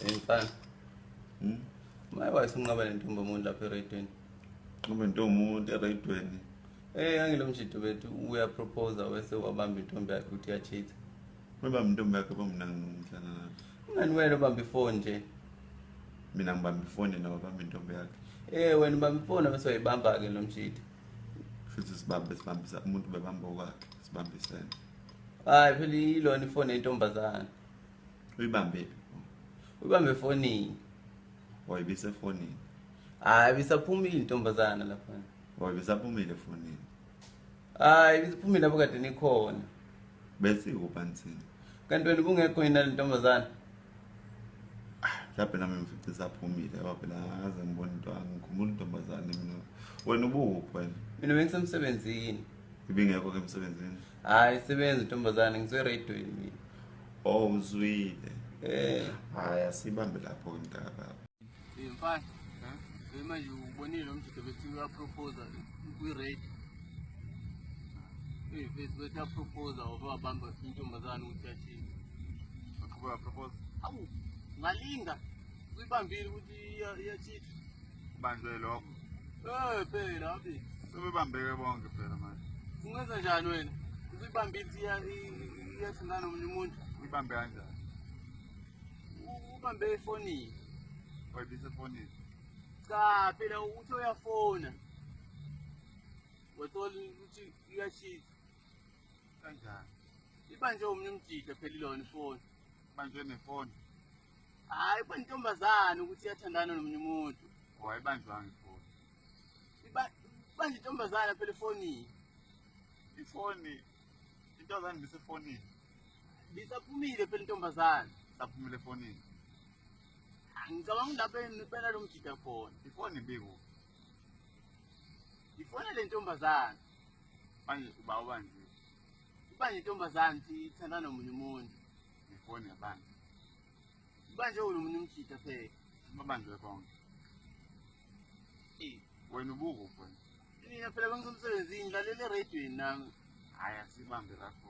Mfana. Hmm? Maye wayesunqaba lentombi omuntu lapha eRaidweni. Nqaba intombi umuntu eRaidweni. Eh angilo mjito bethu uya propose wese wabamba intombi yakhe ukuthi ya cheat. Wabamba intombi yakhe bamnanga umhlana lapho. Ngani wena ubamba ifoni nje. Mina ngibamba ifoni nawe bamba intombi yakhe. Eh wena ubamba ifoni bese uyibamba ke lo mjito. Futhi sibambe sibambisa umuntu bebamba okwakhe sibambisene. Hayi phela ilona ifoni yentombazana. uyibambe uyibambe efonini wayibise efonini hayi bisaphumile intombazana lapha wayebisaphumile efonini hayi bisaphumile lapho kade nikhona bese kubansini kanti wena ubungekho yini le ntombazana mhlawumbe nami ngifice isaphumile ngoba phela akaze ngibone into angikhumbula intombazane mina wena ubuphi wena mina bengisemsebenzini ibingekho ke emsebenzini hayi sebenza intombazane ngiseredweni mina oh uzwile eh hayi asibambe lapho intaba mfana manje ubonile umjito bethi uyaproposa kwi-rate bethi uyaproposa wabamba intombazane ukuthi yathini awu ngalinga Sibambile ukuthi iyachitha. Banjwe lokho. Eh phela abi. Sebebambeke bonke phela manje. Ungenza njani wena? Ubibambile iyathanda nomunye umuntu. Uyibambe kanjani? Ubambe efonini. Wayibise efonini. Cha phela uthi uyafona. Wathola ukuthi iyachitha. Kanjani? Ibanjwe umunye umjida phela ilona ifoni. Ibanjwe nefoni. Hayi kwa ntombazane ukuthi yathandana nomunye umuntu. Wayibanjwanga ifoni. Iba banje ntombazane phela ifoni. Ifoni intombazane bisefonini. Bisaphumile phela intombazane. Saphumile efonini. Ngicabanga lapha ngibela lo mjida khona. Ifoni biku. Ifoni le ntombazane. Manje uba ubanje. Ubanje intombazane ithandana nomunye umuntu. ngifone yabantu manje wena umuntu umkhitha phela babanjwe bonke wena ubuko wena mina phela bengisemsebenzini lalela eradweni nami hhayi asibambe lapho